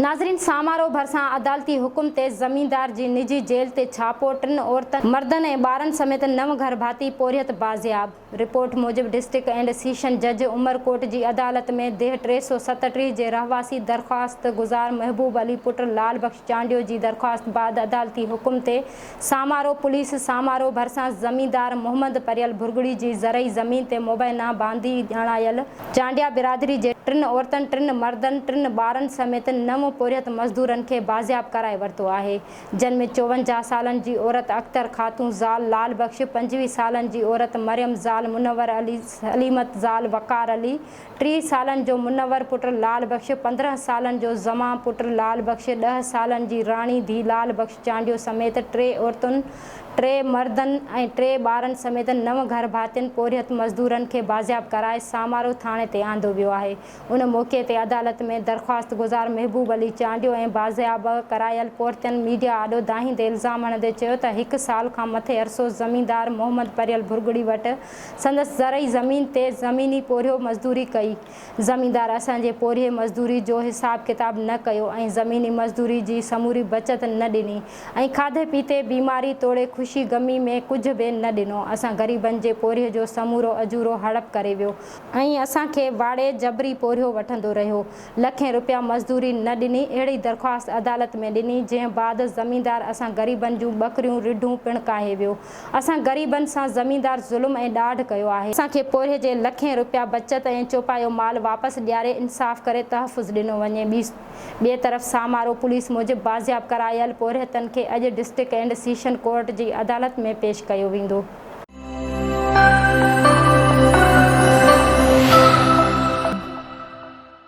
ناظرين سامارو ڀرسان عدالتي حڪم تي زميندار جي نجي جيل تي ڇاپو، ٽن عورتن، مردن ۽ ٻارن سميت نو گهر ڀاتي پورهيت بازياب، رپورٽ موجب ڊسٽرڪٽ اينڊ سيشن جج عمرڪوٽ جي عدالت ۾ ديهه ٽي سؤ ستٽيهه جي رهواسي درخواست گذار محبوب علي پٽ لعل بخش چانڊيو جي درخواست بعد عدالتي حڪم تي سامارو پوليس سامارو ڀرسان زميندار محمد پريل ڀرڳڙي جي زرعي زمين تي مبينا باندي ڄاڻايل چانڊيا برادري جي ٽن عورتن ٽن مردن ٽن ٻارن سميت نو پورهيت مزدورن کي بازياب ڪرائي ورتو آهي جن ۾ چوونجاهه سالن جي عورت اختر خاتون زال لال بخش پنجويهه سالن جي عورت مريم زال منور علي سليمت زال وقار علي ٽيهه سالن جو منور پٽ لعل بخش، پندرهن سالن جو زمان پٽ لعل بخش، ڏهه سالن جي راڻي ڌي لعل بخش چانڊيو سميت ٽي عورتن، ٽي مردن ۽ ٽي ٻارن سميت نو گهر ڀاتين پورهيت مزدورن کي بازياب ڪرائي سامارو ٿاڻي تي آندو ويو آهي، ان موقعي تي عدالت ۾ درخواستگذار محبوب علي چانڊيو ۽ بازياب ڪرايل پورتين ميڊيا آڏو دانهيندي الزام هڻندي چيو ته هڪ سال کان مٿي عرصو زميندار محمد پريل ڀرڳڙي وٽ سندس زرعي زمين تي زميني پورهيو مزدوري ڪئي. زميندار اسان جي پورهيي مزدوري جو حساب ڪتاب نه ڪيو ۽ زميني مزدوري جي سموري بچت نه ڏني ۽ کاڌي پيتي، بيماري توڙي خوشي غمي ۾ ڪجهه به نه ڏنو. اسان غريبن جي پورهيي جو سمورو اجورو هڙپ ڪري ويو ۽ اسان کي واڙي جبري پورهيو وٺندو رهيو. لکين رپيا مزدوري نه ڏني اهڙي درخواست عدالت ۾ ڏني جنهن بعد زميندار اسان غريبن جون ٻڪريون رڍون پڻ ڪاهي ويو. اسان غريبن سان زميندار ظلم ۽ ڏاڍ ڪيو آهي. اسان کي پورهيي جي لکين رپيا بچت ۽ چوپايو مال واپس ڏياري انصاف ڪري تحفظ ڏنو وڃي. ٻئي طرف سامارو پوليس موجب بازياب ڪرايل پورهيتن کي اڄ ڊسٽرڪٽ اينڊ سيشن ڪورٽ جي عدالت ۾ پيش ڪيو ويندو.